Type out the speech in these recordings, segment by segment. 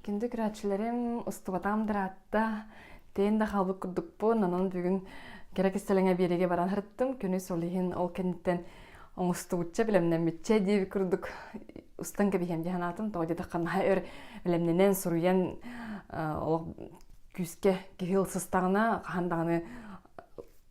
Кинди күрээччилэрим устубатаам дыраатта, тэйэн да хаалбыт курдукпун, онон бүгүн кэрэ кистэлэҥэ биэриигэ баран сырыттым. Күнүс ол иһин ол кэнниттэн оҥостубучча бэлэмнэммиччэ диэбит курдук устан кэбиһиэм дии санаатым. Тоҕо диэтэххэ наһаа өр бэлэмнэнэн, суруйан олох күүскэ киһи ылсыстаҕына хаһан даҕаны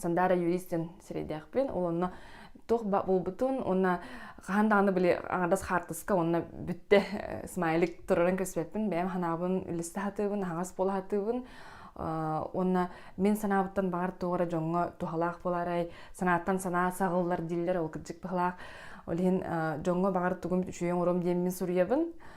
Сандара юрист ден сирэйдэхпин. Ол онно туох ба буолбутун уонна хаһан даҕаны били аҥардас хаартыска уонна бүтте э, смайлик турарын көспүппүн бэйэм санаабын үлүстэ сатыыбын аһаҕас буола сатыыбын уонна мин санаабыттан баҕар туох эрэ дьоҥҥо туһалаах буоларай санааттан санаа саҕыллар дииллэр ол кырдьык туһалаах ол иһин дьоҥҥо баҕар тугум үчүгэй оҥоруом диэммин суруйабын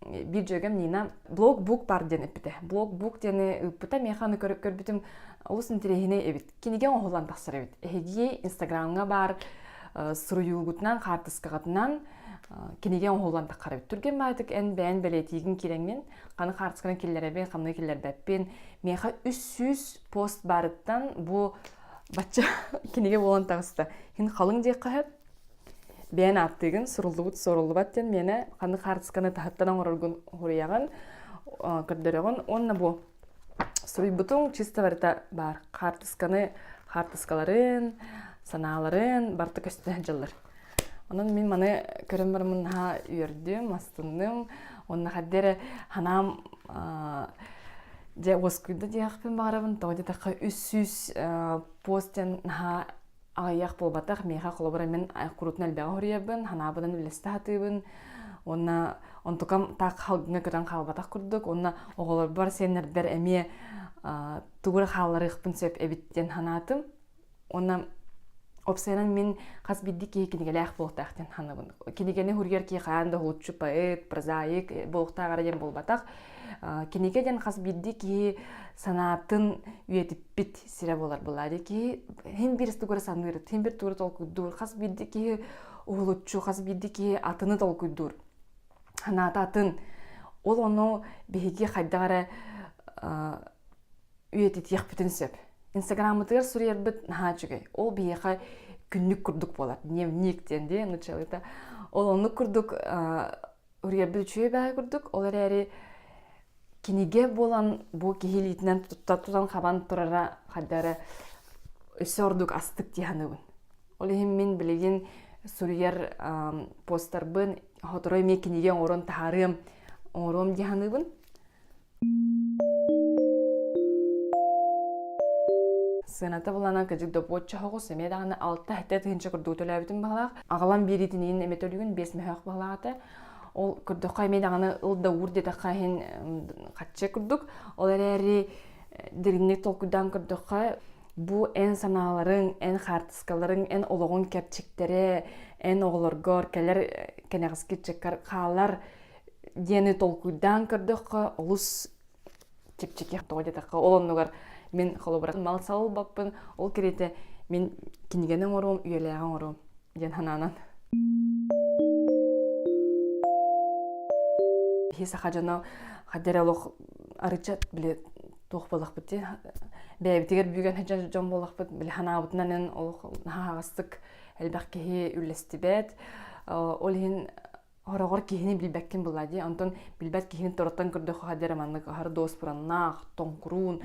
биир дьүөгэм Нина блог бук бар диэн эппитэ блог бук диэни ыыппыта миэхэ аны көрү көрбүтүм олус интириэһинэй эбит кинигэ оҥоһуллан тахсар эбит эһиги инстаграмҥа баар суруйуугутунан хаартыскаҕытынан кинигэ оҥоһуллан таххар эбит түргэн баайытык эн бэйэн бэлиэтиигин киирэҥҥин ханы хаартысканы киллэрэбин хамныы киллэрбэппин миэхэ үс сүүс пост баарыттан бу бачча кинигэ буолан таҕыста иһин халыҥ диэххэ сөп бэйэн ааттыыгын суруллубут суруллубат диэн миэнэ ханнык хаартысканы таһыттан оҥороргун хоруйаҕын көрдөрөҕүн уонна бу суруйбутуҥ чисто барыта баар хаартысканы хаартыскаларын санааларын барыта көстө дьыллар онон мин маны көрөн бараммын наһаа үөрдүм астынным уонна хадды эрэ санаам дьэ уоскуйда диэхпин баҕарабын тоҕо диэтэххэ үс сүүс пост диэн наһаа аҕыйах буолбатах миэхэ холобура мин куруутун элбэҕи хоруйабын ханаабынан үлэстэ сатыыбын уонна онтукам так халгыҥа көтөн хаалбатах курдук уонна оҕолорбор сиэннэрдэр эмиэ тугу эрэ хаалларыахпын сөп эбит диэн санаатым уонна оп сайынан мин хас биирдии киһи кинигэлээх буолтаах диэн санабын кинигэни суруйар киһи хаһан да лучше поэт прозаик э, буолуохтааҕара диэн буолбатах кинигэ диэн хас биирдии киһи санаатын үйэтиппит сирэ буолар былаары киһи һин бир тугура саныыр һин бир тугура толкуйдуур хас биирди киһи уһулуччу хас биирди киһи атыны толкуйдуур ханаата атын ол ону биһиги хайдах эрэ үйэтитиэхпитин сөп инстаграммытыгар суруйарбыт наһаа үчүгэй ол биһиэхэ күннүк курдук буолар дневник диэн дии ну человека ол оннук курдук Уруйарбыт үчүгэй баҕайы курдук, ол эрээри кинигэ буолан бу киһи илиитинэн тутта тутан хабан турара хайда эрэ өссө ордук астык дии саныыбын. Ол иһин мин билигин суруйар постарбын хотору эмиэ кинигэ оҥорон таһаарыам, оҥоруом дии саныыбын. Сыаната булана кадьык допуочча хоҕус эмиэ даҕаны алта этэ тыһынча курдук төлөөбүтүм баҕалаах. Аҕалан биэриитиниин эмэ төлүгүн биэс мөһөөх баҕалаата. Ол көрдөххө эмиэ даҕаны ыл да уур диэтэххэ иһин хаччы курдук. Ол эрээри дириҥник толкуйдаан көрдөххө бу эн санааларыҥ, эн хаартыскаларыҥ, эн олоҕуҥ кэрчиктэрэ, эн оҕолоргор кэлэр кэнэҕэски ыччаккар хаалар диэни толкуйдаан көрдөххө олус чэпчэки тоҕо диэтэххэ ол оннугар мин холобура мал сал ылбаппын ол кириитэ мин кинигэни оҥоруом үйэлээҕи оҥоруом диэн санаанан киһи саха дьоно хайда эрэ олох арыччат били туох буоллахпыт дии бэйэбитигэр бүгэн сылдьар дьон буоллахпыт били санаабытынан эн олох наһаа аҕыстык элбэх киһи үллэстибэт ол иһин Ороҕор киһини билбэккин былаа дии. Онтон билбэт киһини тороттон көрдөххө диэри маннык аһар дуоспураннаах, тоҥкуруун,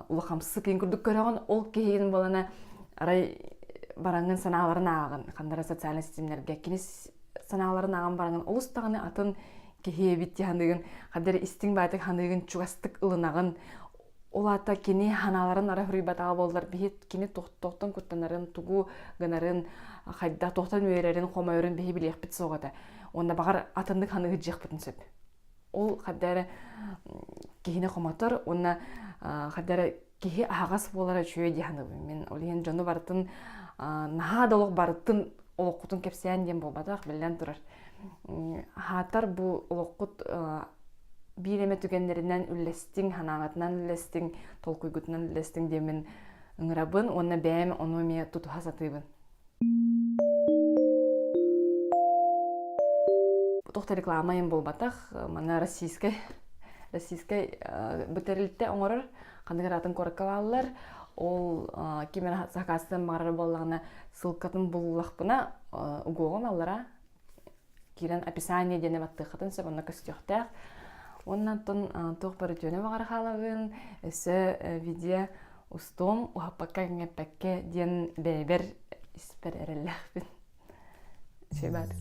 улахамсык ин курдук көрөҕүн. Ол киһигин буолана арай бараҥҥын санааларын ааҕын, хандара социальнай ситимнэргэ кинис санааларын ааҕан бараҥын олус даҕаны атын киһиэбит дии саныыгын, хаддары истиҥ баатык саныыгын чугастык ылынаҕын. Ол аата кини ханааларын ара хоруйбатаҕа буоллар биһи кини тохтон куттанарын тугу гынарын хайда тохтон үөрэрин хомойорун биһи билиэхпит суох этэ уонна баҕар атыннык ханы ыһыддьыахпытын сөп ол хадда эрэ киһини хомотор уонна хадда эрэ киһи аһаҕас буолара үчүгэй дии саныыбын мин ол иһин дьону барытын наһаа да олох барытын олоххутун кэпсээн диэн буолбатах биллэн турар аһаатар бу олоххут биир эмэ түгэннэринэн үллэстиҥ санааҕытынан үллэстиҥ толкуйгутунан үллэстиҥ диэммин ыҥырабын уонна бэйэм ону эмиэ тутуһа сатыыбын туох да реклама иһин буолбатах маны российскай российскай бу тэрилтэ оҥорор ханнык атын куораккалааллар ол ким эрэ сакаастан баҕарар буоллаҕына ссылкатын буллахпына угуоҕум аллара киирэн описание диэни баттыаххытын сөп онно көстүөхтээх уонна оттон туох бөрүтүөнү баҕара хаалаҕын өссө видео устуом уһаппакка эҥҥэппэккэ диэн бэйэбэр испэр эрэллээхпин сибаатык